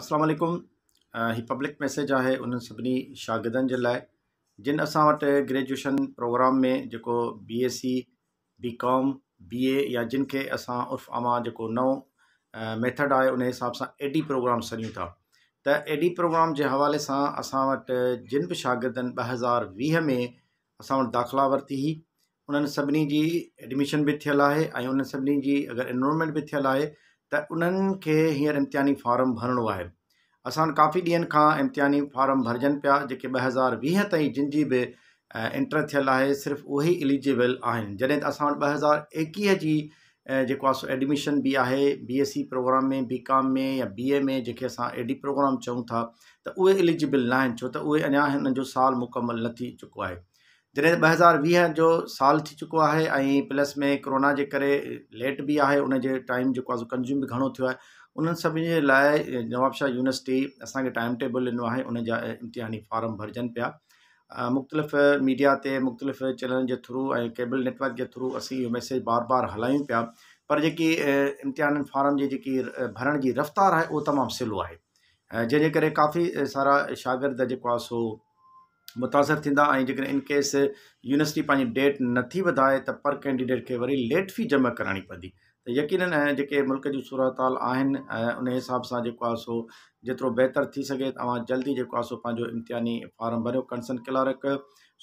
السلام عليڪم هي پبلڪ ميسيج آهي انهن سڀني شاگردن جي لاء جن اسان وٽ گريجوئيشن پروگرام ۾ جيڪو بي ايس سي بي ڪام بي اي يا جن کي اسان عرف عام جيڪو نئون ميٿڊ آهي ان حساب سان اي ڊي پروگرام سڏيون ٿا ته اي ڊي پروگرام جي حوالي سان اسان وٽ جن به شاگردن ٻ هزار ويهه ۾ اسان وٽ داخلا ورتي هئي انهن سڀني جي ايڊميشن به ٿيل آهي ۽ انهن سڀني جي اگر انرولمينٽ به ٿيل آهي ته انهن کي هينئر امتحاني فارم ڀرڻو آهي اسان وٽ ڪافي ڏينهن کان امتحاني فارم ڀرجن پيا جيڪي ٻه هزار ويهه تائين جن جي به انٽر ٿيل آهي صرف اهي ئي اليجبل آهن جڏهن ته اسان وٽ ٻه هزار ايڪيهه جي جيڪو آهي سو ايڊميشن به آهي B S C programme ۾ B com ۾ يا بي اي ۾ جيڪي اسان اي ڊي پروگرام چئون ٿا ته اهي اليجبل ناهن ڇو ته اهي اڃا هنن جو سال مڪمل نه ٿي چڪو آهي جڏهن ته ٻه هزار ويهه جو سال ٿي چڪو آهي ۽ پلس ۾ ڪرونا جي ڪري ليٽ بي آهي ان جي ٽائيم جيڪو آهي سو ڪنزيوم به گهڻو ٿيو آهي انهن سڀني جي لاء نوابشاهه يونيورسٽي اسانکي ٽائيم ٽيبل ڏنو آهي ان جا امتحاني فارم ڀرجن پيا مختلف ميڊيا تي مختلف چينلن جي ٿرو ۽ ڪيبل نيٽورڪ جي ٿرو اسين اهو ميسيج بار بار هلايون پيا پر جيڪي امتحانن فارم جي جيڪي ڀرڻ جي رفتار آهي اهو تمام سلو آهي جنهن جي ڪري ڪافي سارا شاگرد جيڪو آهي سو متاثر ٿيندا ۽ جيڪڏهن ان ڪيس يونيورسٽي پنهنجي ڊيٽ نٿي وڌائي ته پر ڪينڊيڊيٽ کي وري ليٽ في جمع ڪراڻي پوندي ته يقينن ۽ جيڪي ملڪ جون صورتحال آهن ۽ ان حساب سان جيڪو آهي سو جيترو بهتر ٿي سگهي ته اوهان جلدي جيڪو آهي سو پنهنجو امتحاني فارم ڀريو ڪنسرن ڪلارڪ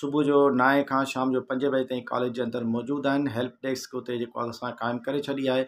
صبح جو نائين کان شام جو پنج بجي تائين ڪاليج جي اندر موجود آهن هيلپ ڊيسڪ اتي جيڪو آهي سان قائم ڪري ڇڏي آهي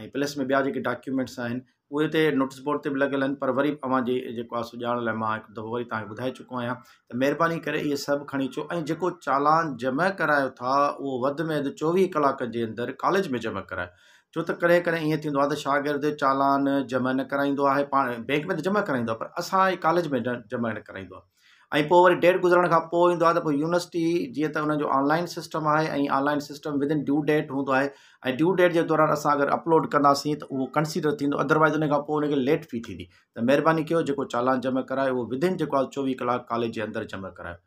۽ پليس ۾ ٻيا جيڪي ڊاڪيومينٽس آهن اهي هتي نوٽس بورڊ تي به لڳل آهن پر وري اوهان جي جيڪو آهي سو ڄاڻ لاء مان هڪ دفعو وري تهان کي ٻڌائي چڪو آهيان ته مهرباني ڪري اهي سڀ کڻي اچو ۽ جيڪو چالان جمع ڪرايو ٿا اهو وڌ ۾ وڌ چوويهه ڪلاڪ جي اندر ڪاليج ۾ جمع ڪرايو ڇو ته ڪڏهن ڪڏهن ائين ٿيندو آهي ته شاگرد چالان جمع نه ڪرائيندو آهي پاڻ بينڪ ۾ ته جمع ڪرائيندو آهي پر اسان ڪاليج ۾ جمع نه ڪرائيندو آهي ۽ پوء وري ڊيٽ گذرڻ کان پوء ايندو آهي ته پوء يونيورسٽي جيئن ته ان جو آنلائن سسٽم آهي ۽ online system within due date هوندو آهي ۽ ڊيو ڊيٽ جي دوران اسان اگر اپلوڊ ڪنداسين ته اهو ڪنسيڊر ٿيندو ادروائز ان کان پوء ان کي ليٽ في ٿيندي ته مهرباني ڪيو جيڪو چالان جمع ڪرايو اهو ودن جيڪو آهي چوويهه ڪلاڪ ڪاليج جي اندر جمع ڪرايو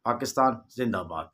پاڪستان زنده باد